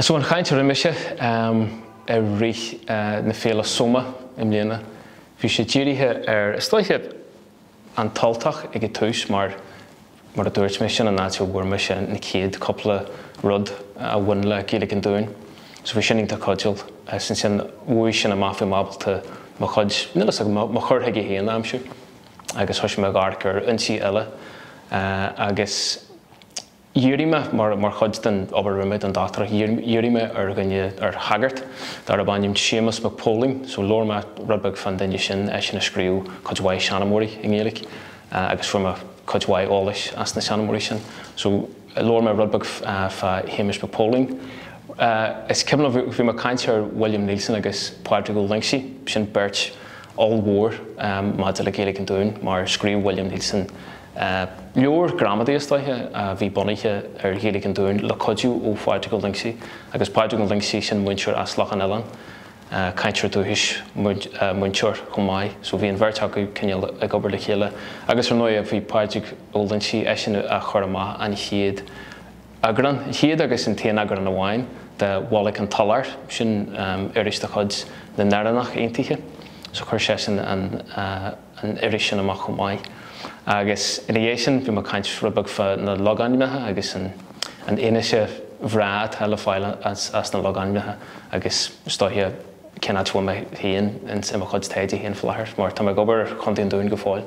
So an chaint a rinne mise i rith na Féile Soma i mbliana. Bhí sé dírithe ar, is dóiche, An tUltach ag an tús mar, mar a dúirt mé, sin an áit a bhfuair mise na chéad cúpla rud a bhain le Gaeilge an Dúin. So bhí sin iontach cuidiúil. Is ansin, uaidh sin amach bhí mé ábalta mo chuid, níl fhios agam, mo chur chuige féin a aimsiú. agus thoisigh mé a dh'amharc ar fhoinsí eile agus dhírigh mé, mar chuid den obair a rinne mé don dochtúireacht, dhírigh mé ar dhuine, ar shagart, darb ainm Séamus Mac Póilin. So labhair mé rud beag fán duine sin, eisean a scríobh cuid mhaith seanmóirí i nGaeilge agus fuair mé cuid mhaith eolais as na seanmóirí sin. So. Labhair mé rud beag fá Shéamus Mac Póilin. Is cuimhin liom, bhí mé ag caint ar William Neilson agus Pádraig Ó Loingsigh, sin beirt ollmhór maidir le Gaeilge an Dúin, mar scríobh William Neilson leabhar gramadaí, is dóiche, a bhí bunaithe ar Ghaeilge an Dúin le cuidiú ó Phádraig Ó Loingsigh. Agus Pádraig Ó Loingsigh, sin múinteoir as Loch an Oileáin. cainteoir dúchais, múinteoir chomh maith, so bhí an bheirt acu cineál ag obair le chéile agus ar ndóigh bhí Pádraig Ó Loingsigh, eisean a chuir amach an chéad eagrán, an chéad agus an t-aon eagrán amháin, de Bholg an tSolair, sin iris de chuid na nÉireannach Aontaithe, so chuir seisean an. an iris sin amach chomh maith. Agus ina dhiaidh sin, bhí mé ag caint rud beag fá na logainmneacha agus an fhianaise bhreá atá le fáil as na logainmneacha agus is dóiche cén áit a bhfuil mé féin ins mo chuid taighde féin faoi láthair mar tá mé ag obair ar Chontae an Dúin go fóill.